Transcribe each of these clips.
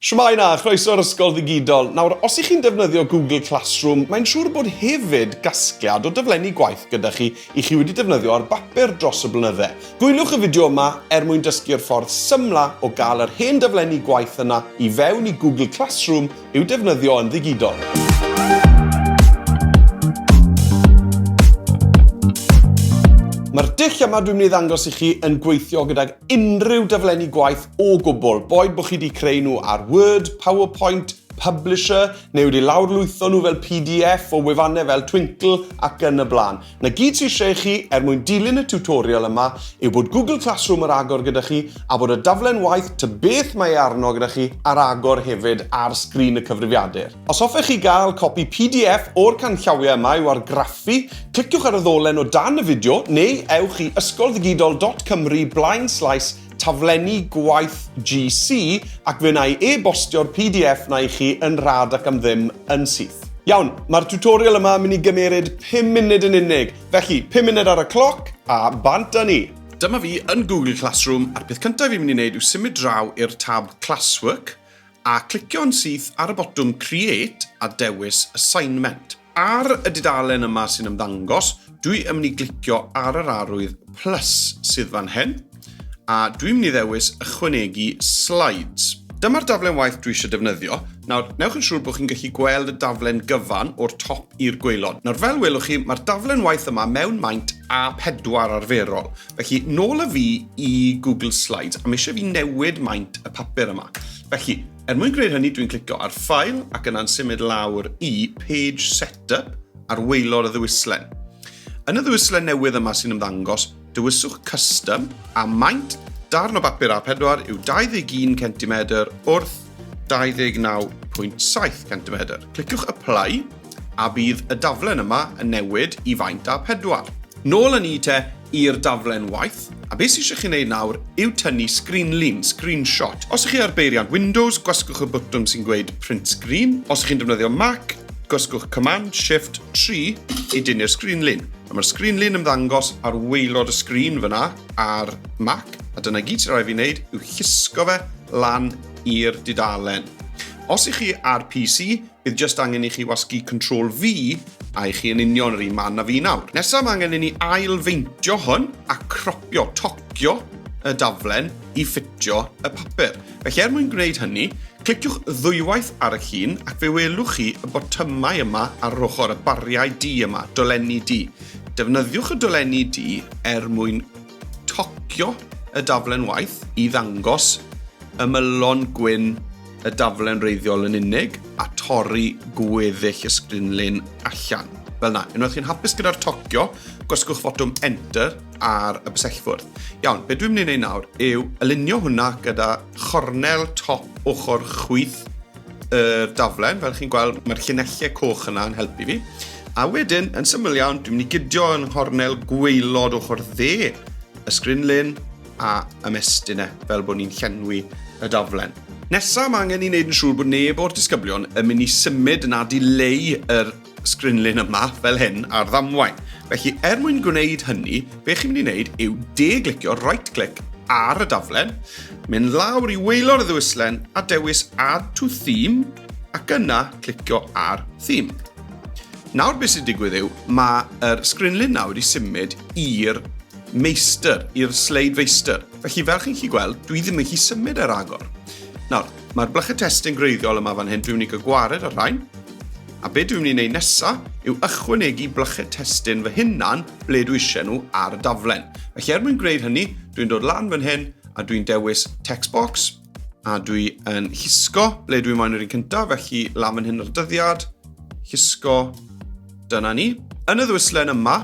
Shwmae 'na, chroeso i'r Ysgol Ddigidol. Nawr, os y'ch chi'n defnyddio Google Classroom, mae'n siŵr bod hefyd gasgliad o daflenni gwaith gyda chi i chi wedi defnyddio ar bapur dros y blynydde. Gwyliwch y fideo yma er mwyn dysgu'r ffordd symla o gael yr hen daflenni gwaith yna i fewn i Google Classroom i'w defnyddio yn ddigidol. Mae'r dull yma dwi'n mynd i ddangos i chi yn gweithio gydag unrhyw daflenni gwaith o gwbl, boed bod chi wedi creu nhw ar Word, PowerPoint, Publisher, neu wedi lawrlwytho nhw fel PDF o wefannau fel Twinkle ac yn y blaen. Na gyd sy'n lle chi er mwyn dilyn y tutorial yma yw bod Google Classroom ar agor gyda chi a bod y daflen waith ta beth mae e arno gyda chi ar agor hefyd ar sgrin y cyfrifiadur. Os hoffech chi gael copi pdf o'r canllawiau yma i'w argraffu, cliciwch ar y ddolen o dan y fideo neu ewch i ysgolddigidol.cymru blaen slaes taflenni gwaith GC ac fe wna i e-bostio'r pdf 'na i chi yn rhad ac am ddim yn syth. Iawn, mae'r tutorial yma yn mynd i gymeryd 5 munud yn unig, felly 5 munud ar y cloc a bant â ni! Dyma fi yn Google Classroom a'r peth cyntaf fi'n mynd i wneud yw symud draw i'r tab Classwork a clicio'n syth ar y botwm Create a dewis Assignment. Ar y dudalen yma sy'n ymddangos, dwi yn mynd i glicio ar yr arwydd plus sydd fan hyn, a dwi'n mynd i ddewis Ychwanegu Slides. Dyma'r daflen waith dwi eisiau defnyddio. Nawr, newch yn siŵr bod chi'n gallu gweld y daflen gyfan o'r top i'r gwaelod. Nawr, fel welwch chi, mae'r daflen waith yma mewn maint A4 arferol. Felly, nôl y fi i Google Slides, a mi eisiau fi newid maint y papur yma. Felly, er mwyn gwneud hynny, dwi'n clicio ar File ac yna'n symud lawr i Page Setup ar weilor y ddewislen. Yn y ddewislen newydd yma sy'n ymddangos, dewiswch Custom a maint darn o bapur A4 yw 21 cm wrth 29.7 cm. Cliciwch Apply A bydd y daflen yma yn newid i faint a pedwar? Nôl yn ni te i'r daflen waith, a be sy eisiau chi wneud nawr yw tynnu sgrinlun, screenshot. Os ych chi ar beiriant Windows, gwasgwch y bwtwm sy'n gweud Print Screen. Os ych chi'n defnyddio Mac, gwasgwch Command Shift 3 i dynnu'r sgrinlun. A mae'r sgrinlun ymddangos ar waelod y sgrin fyna ar Mac, a dyna gyd sy'n rhaid fi wneud yw llusgo fe lan i'r dudalen. Os ych chi ar PC, Bydd jyst angen i chi wasgu Control V a i chi yn union yr un man na fi nawr. Nesaf mae angen i ni ail-feintio hwn a cropio, tocio y daflen i ffitio y papur. Felly er mwyn gwneud hynny, cliciwch ddwywaith ar y llun ac fe welwch chi y botymau yma ar yr ochr, y bariau du yma, dolenni du. Defnyddiwch y dolenni du er mwyn tocio y daflen waith i ddangos ymylon gwyn y daflen wreiddiol yn unig a torri gweddill y sgrinlun allan. Fel na, unwaith chi'n hapus gyda'r tocio, gwasgwch fotwm Enter ar y bysellfwrdd. Iawn, beth dwi'n mynd i wneud nawr yw alinio hwnna gyda chornel top ochr chwyth y daflen. Fel chi'n gweld, mae'r llunellau coch yna yn helpu fi. A wedyn, yn syml iawn, dwi'n mynd i gydio yn chornel gweilod ochr dde y sgrinlun a ymestyn e fel bod ni'n llenwi y daflen. Nesaf, mae angen i wneud yn siŵr bod neb o'r disgyblion yn mynd i symud na dileu yr sgrinlun yma fel hyn ar ddamwain. Felly, er mwyn gwneud hynny, be chi'n mynd i wneud yw de-glicio, right click, ar y daflen, mynd lawr i weilor y ddewislen a dewis Add to Theme ac yna clicio ar Theme. Nawr beth sy'n digwydd yw, mae'r sgrinlun nawr wedi symud i'r meistr, i'r sleid feistr. Felly, fel chi'n chi gweld, dwi ddim yn chi symud ar agor. Nawr, mae'r blychau testyn greiddiol yma fan hyn, dwi'n mynd i gwared ar rhain. A be dwi'n mynd i wneud nesaf yw ychwanegu blychau testyn fy hunan ble dwi eisiau nhw ar y daflen. Felly er mwyn gwneud hynny, dwi'n dod lan fan hyn a dwi'n dewis text box a dwi yn llusgo ble dwi'n moyn yr un cyntaf, felly lan fan hyn ar dyddiad, llusgo, dyna ni. Yn y ddwyslen yma,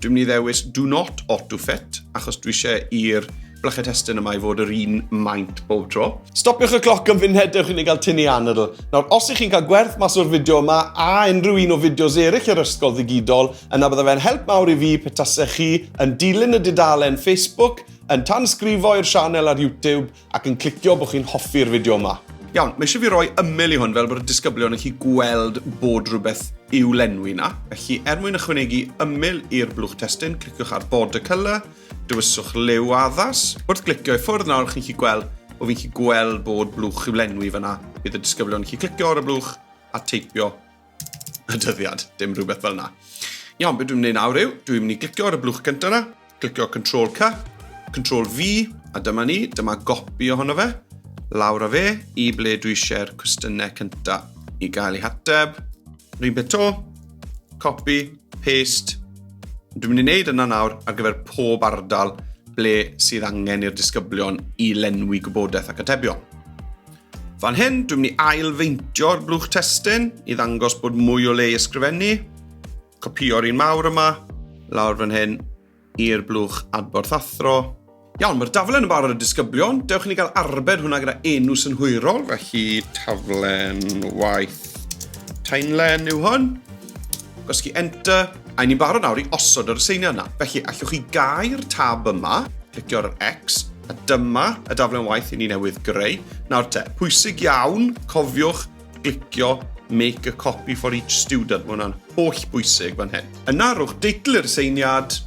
Dwi'n mynd i ddewis do not auto fit achos dwi eisiau i'r blychau testyn yma i fod yr un maint bob tro. Stopiwch y cloc yn fynd hedewch i ni gael tynnu anadl. Nawr, os ych chi'n cael gwerth mas o'r fideo yma a unrhyw un o fideos eraill yr ysgol ddigidol, yna bydda fe'n help mawr i fi pe tasech chi yn dilyn y dudalen Facebook, yn tansgrifo i'r sianel ar YouTube, Ac yn clicio bod chi'n hoffi'r fideo yma. Iawn, mae eisiau fi roi ymyl i hwn fel bod y disgyblion yn chi gweld bod rhywbeth i'w lenwi na. Felly, er mwyn ychwanegu ymyl i'r blwch testun, cliciwch ar border colour, dywyswch liw addas. Wrth glicio i ffwrdd nawr, chi'n chi gweld bod fi'n chi gweld bod blwch i'w lenwi fyna. Bydd y disgyblion yn chi clicio ar y blwch a teipio y dyddiad, dim rhywbeth fel yna. Iawn, beth dwi'n mynd i nawr yw, dwi'n mynd i glicio ar y blwch gyntaf yna, glicio Control C, Control V, a dyma ni, dyma gopi ohono fe, lawr a fe, i ble dwi eisiau'r cwestiynau cyntaf i gael ei hateb. Rhyn beth to, copy, paste. Dwi'n mynd i wneud yna nawr ar gyfer pob ardal ble sydd angen i'r disgyblion i lenwi gwybodaeth ac atebion. Fan hyn, dwi'n mynd i ail-feintio'r blwch testyn i ddangos bod mwy o le i ysgrifennu. Copio'r un mawr yma, lawr fan hyn, i'r blwch adborth athro. Iawn, mae'r daflen yn barod y disgyblion. Dewch i ni gael arbed hwnna gyda enw synhwyrol, felly taflen waith Tainlen yw hwn. Gwasgu Enter, a ni'n barod nawr i osod yr aseiniad yna. Felly, allwch chi gau'r tab yma, clicio ar yr X, a dyma y daflen waith i ni newydd greu. Nawr te, pwysig iawn, cofiwch glicio make a copy for each student. Mae hwnna'n holl bwysig fan hyn. Yna, rhowch deitl i'r aseiniad,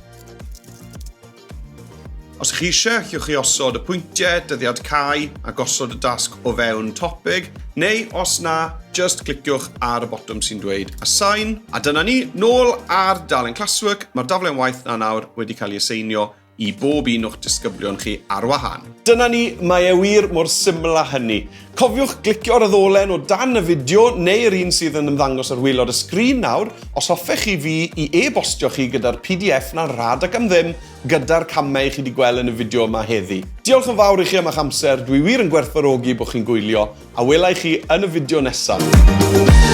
Os ych chi eisiau, chiwch chi osod y pwyntiau, dyddiad cau a gosod y dasg o fewn topig, neu os na, just cliciwch ar y botwm sy'n dweud Assign. A dyna ni, nôl ar dalen Classwork, mae'r daflen waith na nawr wedi cael ei aseinio i bob un o'ch disgyblion chi ar wahân. Dyna ni, mae e wir mor syml â hynny. Cofiwch glicio ar y ddolen o dan y fideo neu yr un sydd yn ymddangos ar waelod y sgrin nawr os hoffech chi fi i e-bostio chi gyda'r pdf 'na'n rhad ac am ddim gyda'r camau chi 'di gweld yn y fideo yma heddi. Diolch yn fawr i chi am eich amser, dwi wir yn gwerthfawrogi bod chi'n gwylio, a wela i chi yn y fideo nesaf.